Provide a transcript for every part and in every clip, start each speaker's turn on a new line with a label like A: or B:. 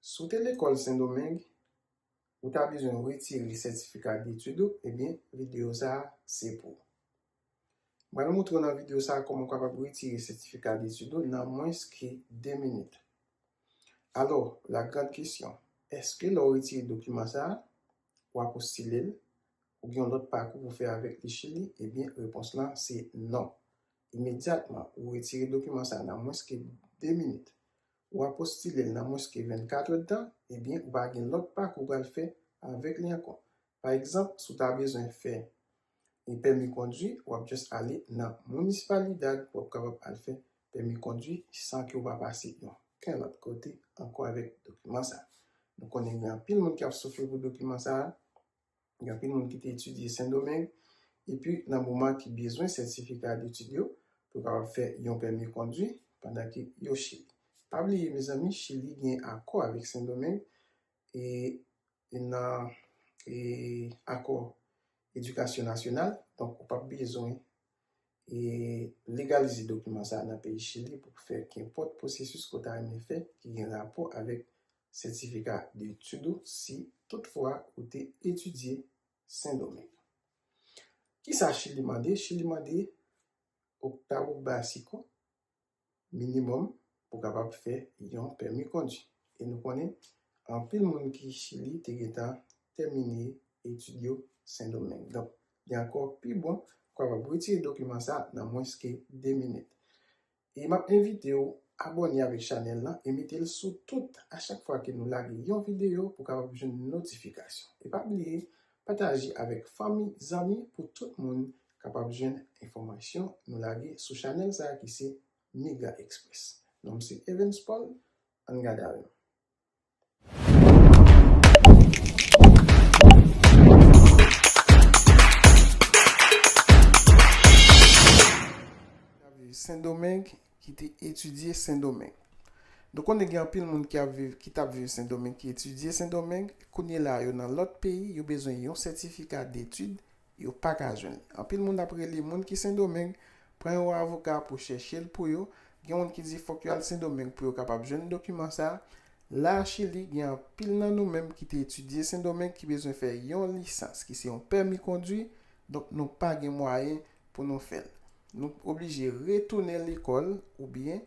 A: Si w te lekòl Sendomeng, ou ta bezwen retire sètifika detid ou, ebyen videyo sa a se pou ou. M pral montre w nan videyo sa a kòman ou kapab retire sètifika detid ou nan mwens ke 2 minit. Alò, la grande question, èske lè w retire dokiman sa a, w a postile l? Ou gen yon lòt pakou pou w fè avèk li Chili? Ebyen repons lan se non. Imedyatman, ou retire dokiman sa a nan mwens ke 2 minit. ou apostile l nan mwens ke 24 èdtan, ebyen ou va gen lòt pa ke ou pral fè avèk li ankò. Pa egzanp, si w ta bezwen fè yon pèmi kondwi, w ap just ale nan Municipalidad pou w ap kapab al fè pèmi kondwi san ke ou pa pase oken lòt kote ankò avèk dokiman sa. Nou konnen gen anpil moun ki ap soufri pou dokiman sa a. Gen anpil moun ki te etidye Sendomeng epi nan moman ki bezwen sètifika detid yo pou kapab fè yon pèmi kondwi pandan ke yo Chili. Pa bliye mezanmi Chili gen akò avèk Sendomeng e nan e akò edikasyon nasyonal donk ou pap bezwen e legalize dokiman sa a nan peyi Chili pou fè kenpòt pwosesis ke w ta renmen fè ki gen rapò avèk sètifika de etid ou si tout fwa ou te etidye Sendomeng. Kisa Chili mande? Chili mande Octavo Básico, minimòm pou kapab fè yon pèmi kondwi. E nou konnen anpil moun ki Chili te gentan tèmine etid yo Sendomeng. Donk, li ankò pi bon pou kapab retire dokiman sa a nan mwens ke 2 minit. E m ap envite ou abòne avèk chanèl lan e mete l sou tout a chak fwa ke nou lage yon videyo pou kapab jwenn notifikasyon. E pa bliye pataje avèk fanmi, zanmi pou tout moun kapab jwenn enfòmasyon nou lage sou chanèl sa ki se Mega Express. Non m se Evens Paul, ann gade avè m. Sendomeng ki te etidye Sendomeng. Nou konnen gen anpil moun ki ap viv, ki t ap viv Sendomeng ki etidye Sendomeng, kounye la yo nan lòt peyi, yo bezwen yon sètifika detid Yo pa ka jwenn. Anpil moun ap rele moun ki Sendomeng, pran yon avoka pou chèche l pou yo. Gen moun ki di fòk yo al Sendomeng pou yo kapab jwenn dokiman sa a. La a Chili, gen anpil nan nou menm ki te etidye Sendomeng ki bezwen fè yon lisans ki se yon pèmi kondwi, donk nou pa gen mwayen pou nou fè l. Nou oblije retounen lekòl oubyen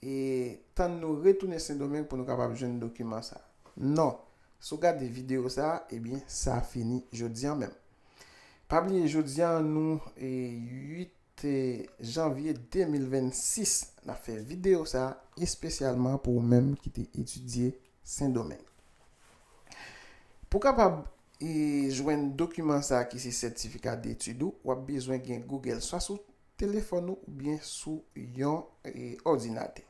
A: E tann nou retounen sendomeng pou nou kapab jwenn dokiman sa non si w gade video sa ebyen sa fini jodi an menm pa bliye jodi an nou 8 janvye 2026 nap fè video sa espesyalman pou ou menm ki te etidye sendomeng pou kapab jwenn dokiman sa ki se sètifika detid ou wap bezwen gen google swa sou telefòn ou oubyen sou yon òdinatè.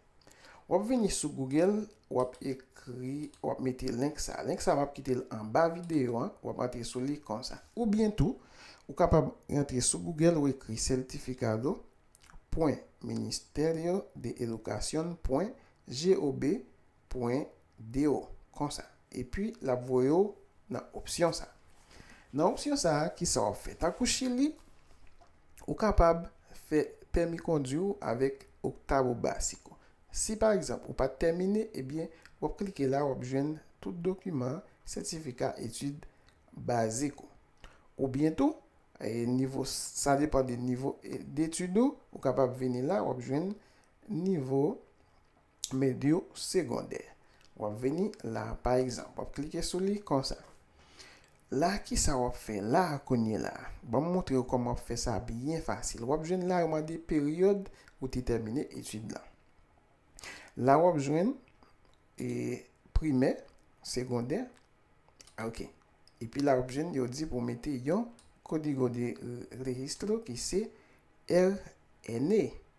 A: W ap vini sou Google, w ap ekri, w ap mete link sa a. Link sa a m ap kite l anba videyo an, w ap antre sou li konsa. Oubyen tou, ou kapab rantre sou Google, ou ekri certificado pwen ministerio de educacion pwen gob. pwen de ou, konsa. Epi l ap voye ou nan opsyon sa. Nan opsyon sa, ki sa w ap fè? Tankou Chili, ou kapab fè pèmi kondwi ou avèk Octavo Básico. Si pa egzanp, ou pa t tèmine, ebyen, w ap klike la, w ap jwenn tout dokiman sètifika etid bazik ou. Oubyen tou, nivo, sa depan de nivo detid ou, ou kapab vini la, w ap jwenn nivo. Mèd yo segondè. W ap vini la a pa egzanp. W ap klike sou li konsa. La a kisa w ap fè la a kounye la a? Ban m montre w kòman w ap fè sa byen fasil. W ap jwenn la a yo mande peryòd ou te tèmine etid lan. La a w ap jwenn e primè, segondè, ok. Epi la a w ap jwenn yo di pou w mete yon kodigo de registro ki se RNA.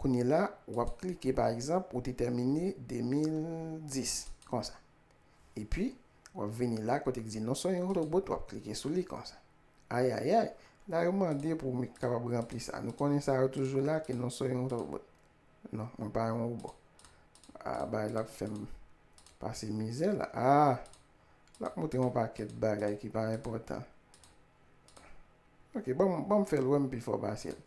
A: Kounye la, w ap klike pa egzanp ou te tèmine 2010, konsa. Epi, w ap vini la kote ki di non son yon robot, w ap klike sou li konsa. Ayayay, la yo mande pou m kapab ranpli sa. Nou konnen sa yo toujou la ke non son yon robot. Non, mwen pa yon robot. A, bagay la ap fè m pase mizè la. A, l ap montre m yon pakèt bagay ki pa enpòtan. Ok, ban m fè l wè m pi fò pase l.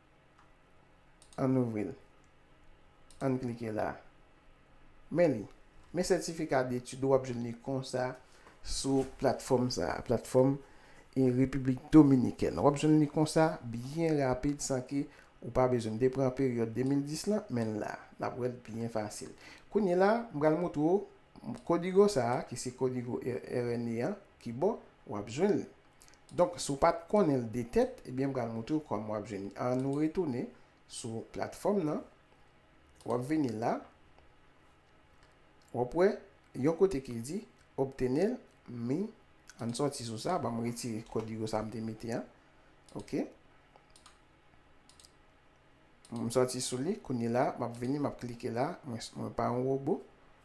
A: Ann ouvri l. Ann klike la. Men li. Men sètifika detid ou, w ap jwenn li konsa sou platfòm sa a, platfòm Repiblik Dominikèn. W ap jwenn li konsa, byen rapid, san ke ou pa bezwen. M te pran peryòd 2010 lan, men l la. N ap wè l byen fasil. Kounyela, m pral montre ou kodigo sa a, ki se kodigo RNE an, ki bon, w ap jwenn li. Donk si w pat konnen l de tèt ebyen m pral moutre w kòman wap jwenn li an nou retounen sou platfòm nan wap vini la wap wè yon kote ki di obtenir mi an n sòti sou sa banm retire kodigo sa m te mete an ok m sòti sou li kounye la map vini map klike la mwen pa yon wobo.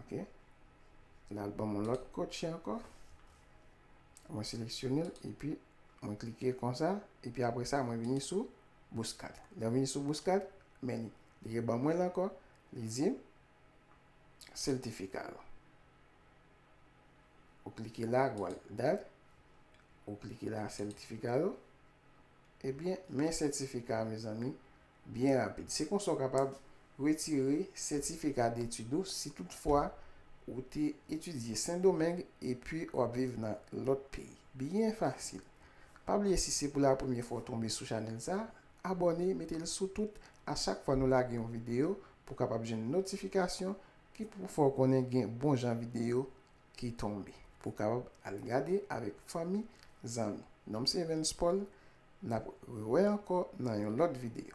A: Ok. La l ban mwen lòt kotche ankò. Mwen seleksyone l epi mwen klike konsa. Epi apre sa mwen vini sou bouskad. Lè mwen vini sou bouskad, men li. Li reban mwen l ankò. Li di m, sètifika yo. Ou klike la, ou al dat. Ou klike la, sètifika yo. Ebyen, men sètifika mezanmi. Byen rapid. Se konsa w kapab retire sètifika detid ou si tout fwa ou te etidye Sendomeng epi w ap viv nan lòt peyi. Byen fasil. Pa bliye si se pou la premye fwa w tonbe sou chanèl sa, abòne mete l sou tout a chak fwa nou lage yon videyo pou w kapab jwenn notifikasyon ki pou fè w konnen gen bon jan videyo ki tonbe pou w kapab al gade avèk fanmi, zanmi. Non m se Evens Paul, Nap re wè ankò nan yon lòt video.